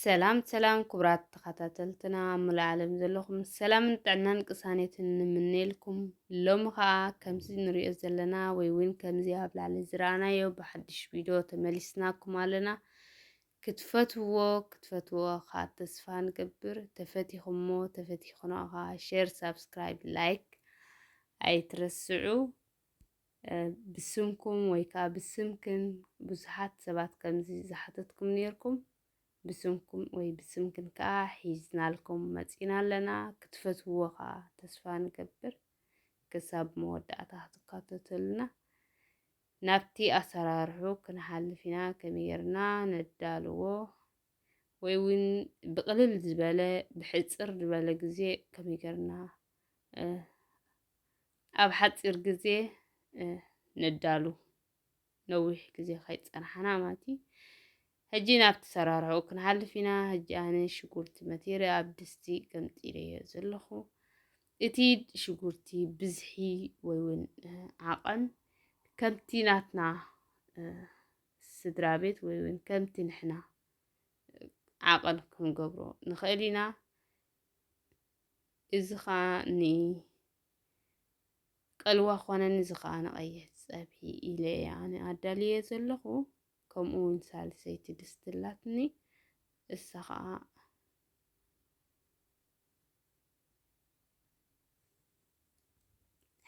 ሰላም ሰላም ክቡራት ተኸታተልትና ኣብ ሙሉእ ዓለም ዘለኹም ሰላምን ጥዕናን ቅሳኔትን ንምነየልኩም ሎሚ ከዓ ከምዚ ንሪኦ ዘለና ወይ እውን ከምዚ ኣብ ላዕሊ ዝረኣናዮ ብሓድሽ ቪድዮ ተመሊስናኩም ኣለና ክትፈትዎ ክትፈትዎኻ ተስፋ ንገብር ተፈቲኹሞ ተፈቲኽኖኻ ሼር ሳብስክራይብ ላይክ ኣይትረስዑ ብስምኩም ወይ ከዓ ብስምክን ብዙሓት ሰባት ከምዚ ዝሓተትኩም ነይርኩም ብስምኩም ወይ ብስምክን ከዓ ሒዝናልኩም መፂና ኣለና ክትፈትዎ ከዓ ተስፋ ንገብር ክሳብ መወዳእታ ክትካተተሉና ናብቲ ኣሰራርሕኡ ክንሓልፍ ኢና፣ ከመይ ጌርና ነዳልዎ ወይ እውን ብቕልል ዝበለ ብሕጽር ዝበለ ግዜ ከመይ ጌርና ኣብ ሓጺር ግዜ ነዳሉ ነዊሕ ግዜ ከይጸናሕና ማለት እዩ። ሕጂ ናብቲ ኣሰራርሕኡ ክንሓልፍ ኢና። ሕጂ ኣነ ሽጉርቲ መቲረ ኣብ ድስቲ ገምጢለዮ ዘለኹ። እቲ ሽጉርቲ ብዝሒ ወይ እውን ዓቐን ከምቲ ናትና ስድራ ቤት ወይ እውን ከምቲ ንሕና ዓቐን ክንገብሮ ንኽእል ኢና እዚ ከዓ ንቀልዋ ኮነን እዚ ከዓ ንቀይሕ ፀብሒ ኢለ ኣነ ኣዳልየ ዘለኹ ከምኡ ውን ሳልሰይቲ ድስቲ ኣላትኒ እሳ ከዓ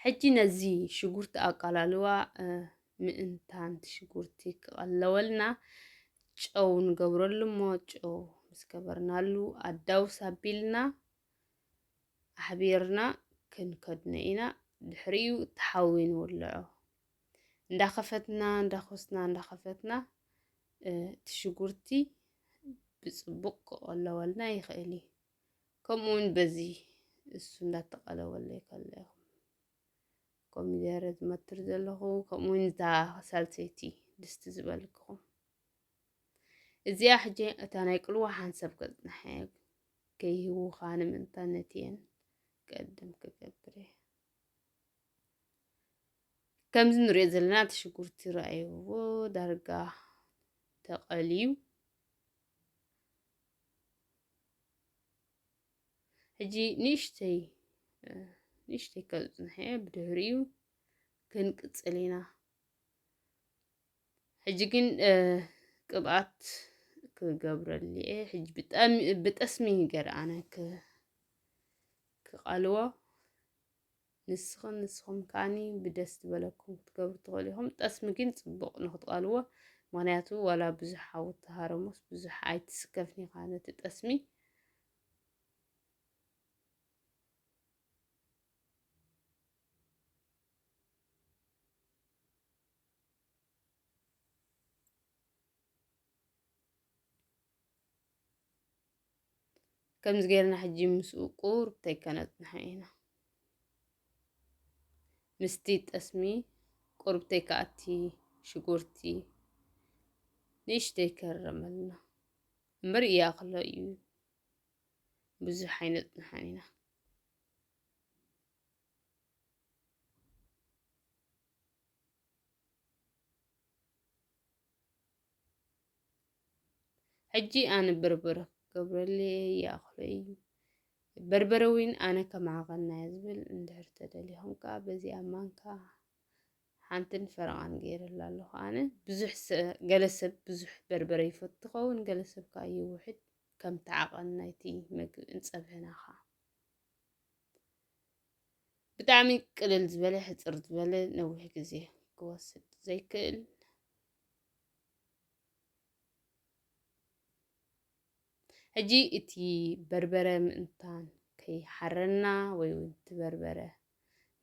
ሕጂ ነዚ ሽጉርቲ ኣቃላልዋ ምእንታን ሽጉርቲ ክቐለወልና ጨው ንገብረሉ እሞ ጨው ምስ ገበርናሉ ኣዳውስ ኣቢልና ኣሕቢርና ክንከድኖ ኢና ድሕሪኡ ተሓዊ ንውልዖ እንዳኸፈትና እንዳኾስና እንዳኸፈትና እቲ ሽጉርቲ ብፅቡቕ ክቐለወልና ይኽእል እዩ ከምኡ እውን በዚ እሱ እንዳተቐለወለይ ከሎ ይኹን ኮሚደረ ዝመትር ዘለኹ ከምኡ እውን እታ ሳልሰይቲ ድስቲ ዝበልክኹም እዚኣ ሕጂ እታ ናይ ቅልዋ ሓንሰብ ከፅናሐ ከይህውኻ ንምንታነት እየን ቀድም ክገብር እየ ከምዚ ንሪኦ ዘለና እቲ ሽጉርቲ ረኣይዎ ዳርጋ ተቐልዩ ሕጂ ንእሽተይ ንእሽተይ ካብ ዝፅንሐ ብድሕሪኡ ክንቅፅል ኢና ሕጂ ግን ቅብኣት ክገብረሉ እየ ሕጂ ብጣዕሚ ብጠስሚ ገርኣነ ክቓልዎ ንስኽን ንስኹም ከኣኒ ብደስ ዝበለኩም ክትገብሩ ትኽእሉ ኢኹም። ጠስሚ ግን ጽቡቕ ንክትቐልዎ፣ ምክንያቱ ዋላ ብዙሕ ሓዊ ተሃረሞስ ብዙሕ ኣይትስከፍን ኢኻ ነቲ ጠስሚ ከምዚ ጌርና ሕጂ ምስኡ ቁርብተይ ከነጽንሖ ኢና ምስቲ ጠስሚ ቁርብተይ ከኣቲ ሽጉርቲ ንእሽተይ ከረመልና እምበር እያ ከሎ እዩ ብዙሕ ኣይነጽንሖን ኢና ሕጂ ኣነ በርበረ ክገብረለይ እየ ይኣኽሎ እዩ በርበረ እውን ኣነ ከማኸና እየ ዝብል እንድሕር ተደሊኹም ከዓ በዚኣ ማንካ ሓንትን ፈረቓን ገይረላ ኣለኹ ኣነ ብዙሕ ገለ ሰብ ብዙሕ በርበረ ይፈቱ ኸውን ገለ ሰብ ከዓ ይውሕድ ከምቲ ዓቐን ናይቲ መግቢ እንፀብሕና ከዓ ብጣዕሚ ቅልል ዝበለ ሕፅር ዝበለ ነዊሕ ግዜ ክወስድ ዘይክእል ሕጂ እቲ በርበረ ምእንታን ከይሓረና ወይ እውን እቲ በርበረ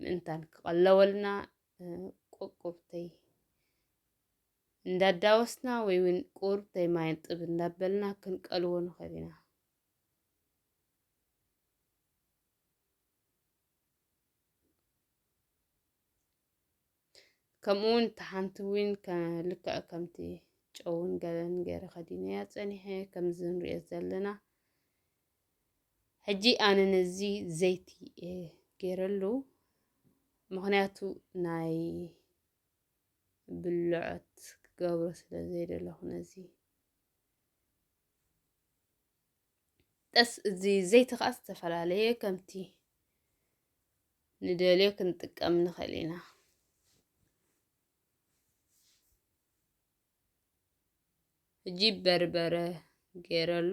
ምእንታን ክቐለወልና ቁርቁርተይ እንዳዳወስና ወይ እውን ቁርተይ ማይን ጥብ እንዳበልና ክንቀልዎ ንኽእል ኢና ከምኡውን እታ ሓንቲ እውን ልክዕ ከምቲ ጨውን ገለን ገይረ ከዲነያ ፀኒሐ ከምዚ ንሪኦ ዘለና ሕጂ ኣነ ነዚ ዘይቲ ገይረሉ ምክንያቱ ናይ ብልዖት ክገብሮ ስለ ዘይደለኹ ነዚ ጠስ እዚ ዘይቲ ከዓ ዝተፈላለየ ከምቲ ንደልዮ ክንጥቀም ንኽእል ኢና። ሕጂ በርበረ ገይረሉ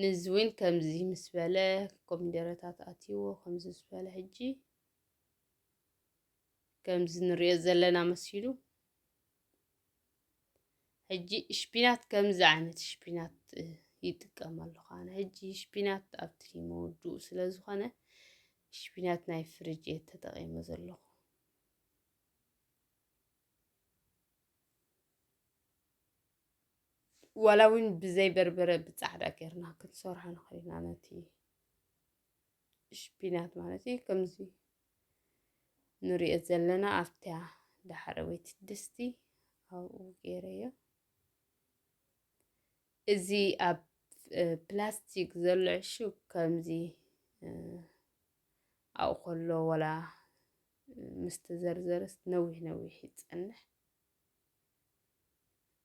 ንዚ እውን ከምዚ ምስ በለ ኮሚደረታት ኣትይዎ ከምዚ ምስ በለ ሕጂ ከምዚ ንሪኦ ዘለና መሲሉ ሕጂ ሽፒናት ከምዚ ዓይነት ሽፒናት ይጥቀም ኣለኹ ኣነ ሕጂ ሽፒናት ኣብቲ መወድኡ ስለ ዝኾነ ሽፒናት ናይ ፍርጅ እየ ተጠቒመ ዘለኹ ዋላ እውን ብዘይ በርበረ ብፃዕዳ ጌርና ክንሰርሖ ንኽእል ኢና ነቲ ሽፒናት ማለት እዩ ከምዚ ንሪኦ ዘለና ኣብታ ዳሕረወይቲ ድስቲ ኣብኡ ገይረዮ እዚ ኣብ ፕላስቲክ ዘሎ ዕሹግ ከምዚ ኣብኡ ከሎ ወላ ምስ ተዘርዘረስ ነዊሕ ነዊሕ ይፀንሕ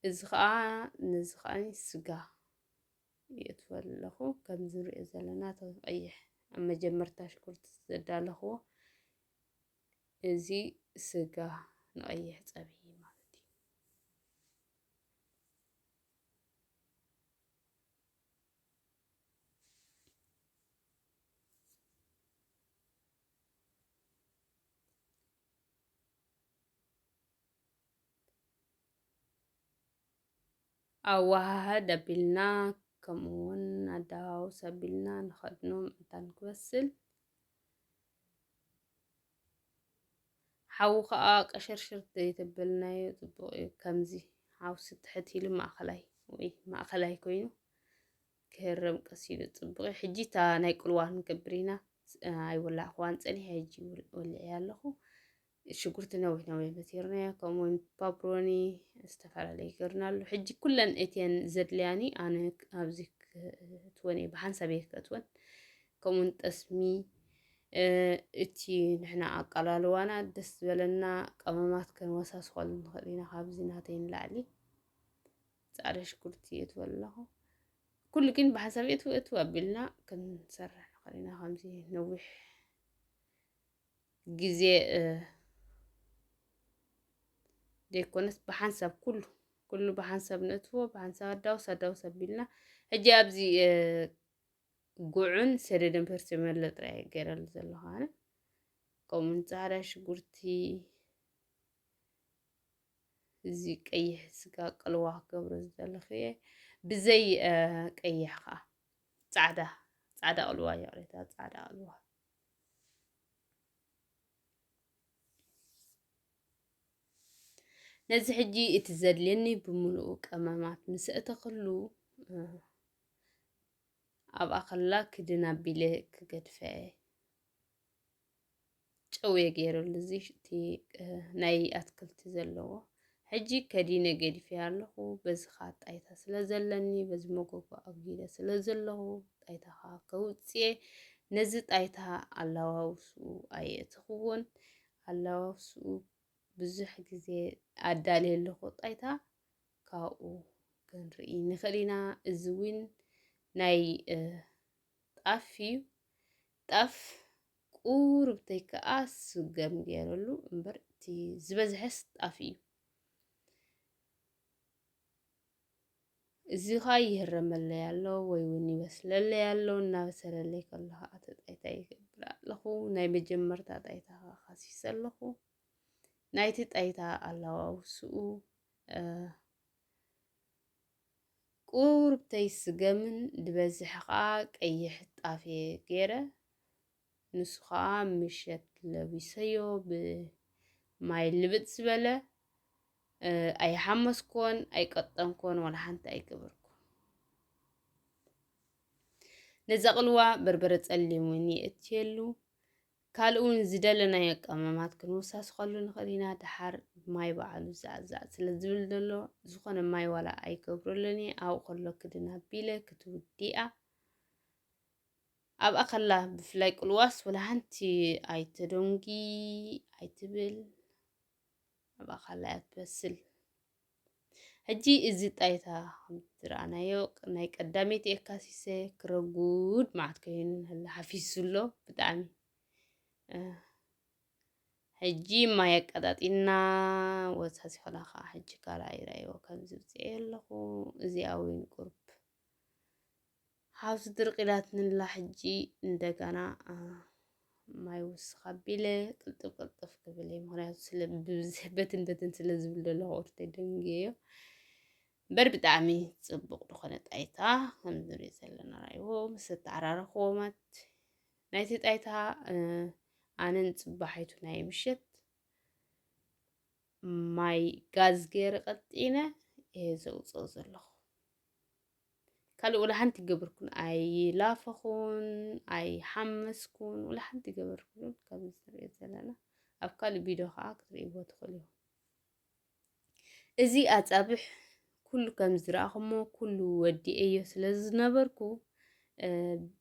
እዚ ከዓ ነዚ ከዓ ስጋ የእትወሉ ኣለኹ ከምዚ ንሪኦ ዘለና እቲ ቀይሕ ኣብ መጀመርታ ሽጉርቲ ዘዳለኽዎ እዚ ስጋ ንቀይሕ ፀብሒ ኣወሃህድ ኣቢልና ከምኡ ውን ኣደዋውስ ኣቢልና ንኸድኖ ምእንታን ክበስል ሓዊ ከዓ ቀሽርሽር ዘይተበልናዮ ፅቡቅ እዩ ከምዚ ሓውሲ ትሕት ኢሉ ማእኸላይ ወይ ማእኸላይ ኮይኑ ክህረም ቀስ ኢሉ ፅቡቅ እዩ ሕጂ እታ ናይ ቁልዋ ክንገብር ኢና ኣይወላዕኽዋን ፀኒሐ ሕጂ ወሊዐ ኣለኹ ሽጉርቲ ነዊሕ ነዊሕ በቲርናዮ ከምኡ ውን ፓፕሮኒ ዝተፈላለዩ ገርናሉ ሕጂ ኩለን እትየን ዘድልያኒ ኣነ ኣብዚ ክትወን እየ ብሓንሳብ እየ ከትወን ከምኡውን ጠስሚ እቲ ንሕና ኣቀላልዋና ደስ ዝበለና ቀመማት ከንወሳስኸሉ ንኽእል ኢና ካብዚ ናተይ ንላዕሊ ፃዕዳ ሽጉርቲ እትወ ኣለኹ ኩሉ ግን ብሓንሳብ እትወ እትወ ኣቢልና ክንሰርሕ ንኽእል ኢና ከምዚ ነዊሕ ግዜ ዘይኮነስ ብሓንሳብ ኩሉ ኩሉ ብሓንሳብ ነእትዎ ብሓንሳብ ኣዳውስ ኣዳውስ ኣቢልና ሕጂ ኣብዚ ጉዕን ሰደድን ፐርሲመሎ ጥራይ ገይረሉ ዘለኹ ኣነ ከምኡውን ፃዕዳ ሽጉርቲ እዚ ቀይሕ ስጋ ቅልዋ ክገብሮ ዝደለኹ እየ ብዘይ ቀይሕ ከዓ ፃዕዳ ፃዕዳ ቅልዋ ይቕሬታ ፃዕዳ ቅልዋ ነዚ ሕጂ እቲ ዘድልየኒ ብምሉኡ ቀመማት ምስ እተኽሉ ኣብ ኣኸላ ክድን ኣቢለ ክገድፈ ጨውየ ገይረሉ እዚ እቲ ናይ ኣትክልቲ ዘለዎ ሕጂ ከዲነ ገዲፈያ ኣለኹ፣ በዚ ኸኣ ጣይታ ስለ ዘለኒ፣ በዚ መጎጎ ኣጒዲለ ስለ ዘለኹ፣ ጣይታ ኸኣ ከውጽእየ፣ ነዚ ጣይታ ኣላዋውስኡ ኣየእተኽዎን፣ ኣላዋውስኡ ብዙሕ ግዜ ኣዳልየ ኣለኹ፣ ጣይታ ካብኡ ክንርኢ ንኽእል ኢና፣ እዚ እውን ናይ ጣፍ እዩ ጣፍ ቁሩብተይ ከኣ ስገም ጌረሉ እምበር እቲ ዝበዝሐስ ጣፍ እዩ። እዚ ኸኣ ይህረመለይ ኣሎ ወይ እውን ይበስለለይ ኣሎ እናበሰለለይ ከሎ ኸኣ እቲ ጣይታ ይገብር ኣለኹ ናይ መጀመርታ ጣይታ ኸኣ ካሲሰ ኣለኹ ናይቲ ጣይታ ኣላዋውስኡ ቁሩብተይ ስገምን ድበዝሕ ከኣ ቀይሕ ጣፍ'የ ገይረ፣ ንሱ ከኣ ምሸት ለቢሰዮ ብማይ ልብጥ ዝበለ፣ ኣይሓመስኩዎን፣ ኣይቀጠንኩዎን፣ ዋላ ሓንቲ ኣይገበርኩን። ነዛ ቅልዋ በርበረ ጸሊም እውን የእትየሉ፣ ካልእ እውን ዝደለናዮ ቀመማት ክንወሳስኸሉ ንኽእል ኢና ደሓር ማይ በዓሉ ዛዕዛዕ ስለ ዝብል ዘሎ ዝኾነ ማይ ዋላ ኣይገብረሉን እየ ኣብኡ ከሎ ክድን ኣቢለ ክትውዲኣ ኣብኣ ከላ ብፍላይ ቅልዋስ ወላ ሓንቲ ኣይተደንጊ ኣይትብል ኣብኣ ከላ እያ ትበስል ሕጂ እዚ ጣይታ ከምቲ ዝረኣናዮ ናይ ቀዳመይቲ የካሲሰ ክረጉድ መዓት ኮይኑ ንህላ ሓፊሱ ኣሎ ብጣዕሚ ሕጂ ማይ ኣቀጣጢና ወሳሲ ኾላ ከዓ ሕጂ ካልኣ ይረኣይዎ ከምዚ ብፅዔ ኣለኹ እዚኣ እውን ቁርብ ሃብቲ ድርቅ ኢላትንላ ሕጂ እንደጋና ማይ ውስኽ ኣቢለ ቅልጥፍ ቅልጥፍ ክብል እየ ምክንያቱ ስለ በትን በትን ስለ ዝብል ዘለኹ ቁርተ ደንግዮ እምበር ብጣዕሚ ፅቡቕ ዝኾነ ጣይታ ከም ንሪኦ ዘለና ራእይዎ ምስ ተዓራረኽዎ ማለት ናይቲ ጣይታ ኣነን ፅባሒቱ ናይ ምሸት ማይ ጋዝ ገይረ ቀጢነ እየ ዘውፅኦ ዘለኹ ካልእ ወላ ሓንቲ ገበርኩን ኣይላፈኹን ኣይሓመስኩን ወላ ሓንቲ ገበርኩን ከምዚ ትሪኦ ዘለና ኣብ ካልእ ቪድዮ ከዓ ክትሪእዎ ትኽእሉ ኢኹም እዚ ኣፃብሕ ኩሉ ከም ዝረኣኹሞ ኩሉ ወዲኤዮ ስለ ዝነበርኩ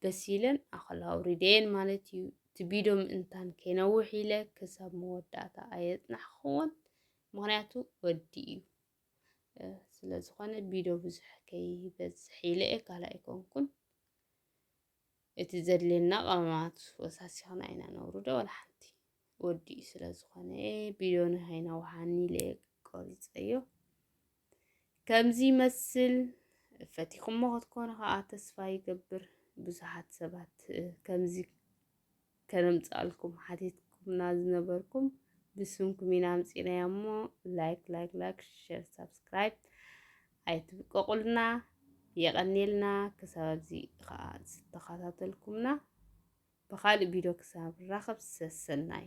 በሲለን ኣኸላ ኣውሪደየን ማለት እዩ እቲ ቪድዮ ምእንታን ከይነውሕ ኢለ ክሳብ መወዳእታ ኣየፅናሕክዎን ምክንያቱ ወዲ እዩ ስለ ዝኾነ ቢዶ ብዙሕ ከይበዝሕ ኢለ እየ ካልእ ኣይኮንኩን እቲ ዘድልየና ቀመማት ወሳሲኽና ኢና ነውርዶ ወላ ሓንቲ ወዲኡ ስለ ዝኾነ ቢዶ ንሃይና ውሃኒ ኢለ እየ ቆሪፀዮ ከምዚ ይመስል ፈቲኹሞ ክትኮኑ ከዓ ተስፋ ይገብር ብዙሓት ሰባት ከምዚ ከነምጽኣልኩም ሓቲትኩምና ዝነበርኩም ብስምኩም ኢና ኣምጺእናያ እሞ ላይክ ላይክ ላይክ ሸር ሳብስክራይብ ኣይትብቀቑልና የቐኔልና ክሳብ ኣብዚ ከዓ ዝተኸታተልኩምና ብኻልእ ቪድዮ ክሳብ ራኸብ ሰሰናዩ